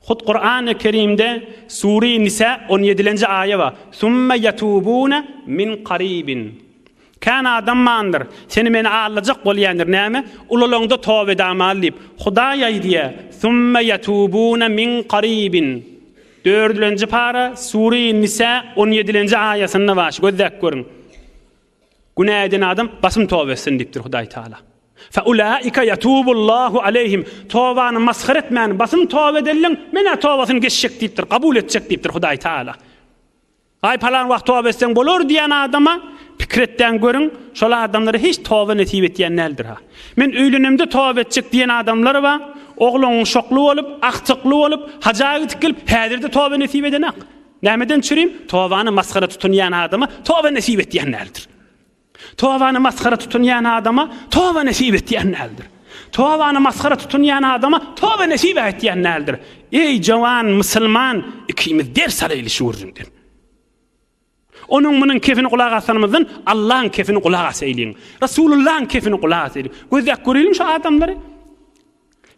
Hut Kurany Kerimde Sure Nisa on ýedilenji aýa bar. Sümme yetubune min karibin. Kän adam bandyr, seni meni allajak bolýandyr näme? Ulalanda toba edamaly diýip. Hudaý aýdýar, Sümme yetubune min karibin. Dördülenji para Sure Nisa on ýedilenji aýasynda bar, gözläp görüň. Günä eden adam basym toba etsin diýipdir Hudaý Taala. Fe ulaika yatubullahu aleyhim. Tobany masgara etmäni basym toba edenleň menä tobasyny geçjek diýipdir, kabul etjek diýipdir Hudaý Taala. Aý palan wagt toba etseň bolar diýen adama pikir etdäň görüň, şol adamlara hiç toba nesip etýän däldir ha. Men öýlenemde toba etjek diýen adamlar bar. Ogluň şokly bolup, agtykly bolup, haja gidip gelip, häzirde toba nesip edenak. Nämeden çürim? Tobany masgara tutunýan adama toba nesip etýän däldir. Tobany masgara tutunýan adama toba nesip etýän däldir. Tobany masgara tutunýan adama toba nesip ätýän däldir. Eý jowan musulman, ikimiz ders alaýly şu gürrüňden. Onuň munuň kefini gulak asanymyzdan Allaň kefini gulak asaýlyň. Rasulullaň kefini gulak asaýlyň. Gözläp göreliň şu adamlary.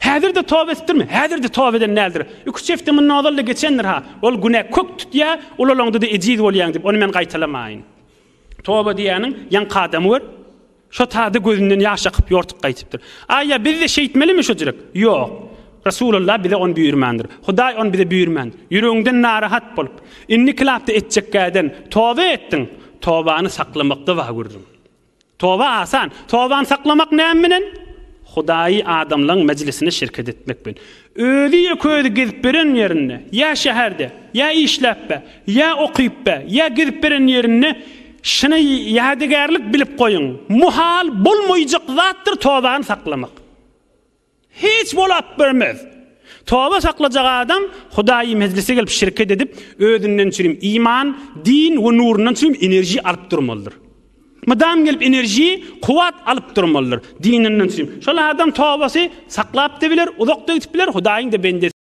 Häzir-de toba etdirme. Häzir-de toba eden däldir. Üç hepde mundan ozal-da geçendir-ha. Ol günä kök tutýar, ulalaňda-da ejiz bolýaň diýip, ony men gaýtalamaýyn. Toba diýýäniň, ýaňky adamy gör. Şo tada gözünden ýaş akyp, ýortup gaýtypdyr. Aý-ýa, biz-de şeýtmelimi şojurek? Ýok. Resulalla bize ony buýurmandyr. Hudaý ony bize buýurman. Ýüregiňden narahat bolup, indiki lapda etjekgäden toba etdiň. Tobany saklamakda wah gördüň. Toba asan. Tobany saklamak näme bilen? Hudaýy adamlaryň mejlisine şirket etmek bilen. Özi ýeke-özi gezip beren ýerinde, ýa şäherde, ýa işläpbe, ýa okypbe, ýa gezip beren ýerinde şuny ýadygärlik bilip goýuň, muhal bolmaýjak zatdyr tobany saklamak. Hiç bolap görmez. Toba saklajak adam Hudaýy mejlise gelip şirket edip, özünden çürim iman, din we nurundan çürim enerji alyp durmalydyr. Mydam gelip enerji, kuwwat alyp durmalydyr. Dininden çürim. Şol adam tobasy saklap-da biler, uzak-da gidip biler, Hudaýyň-da bendesi.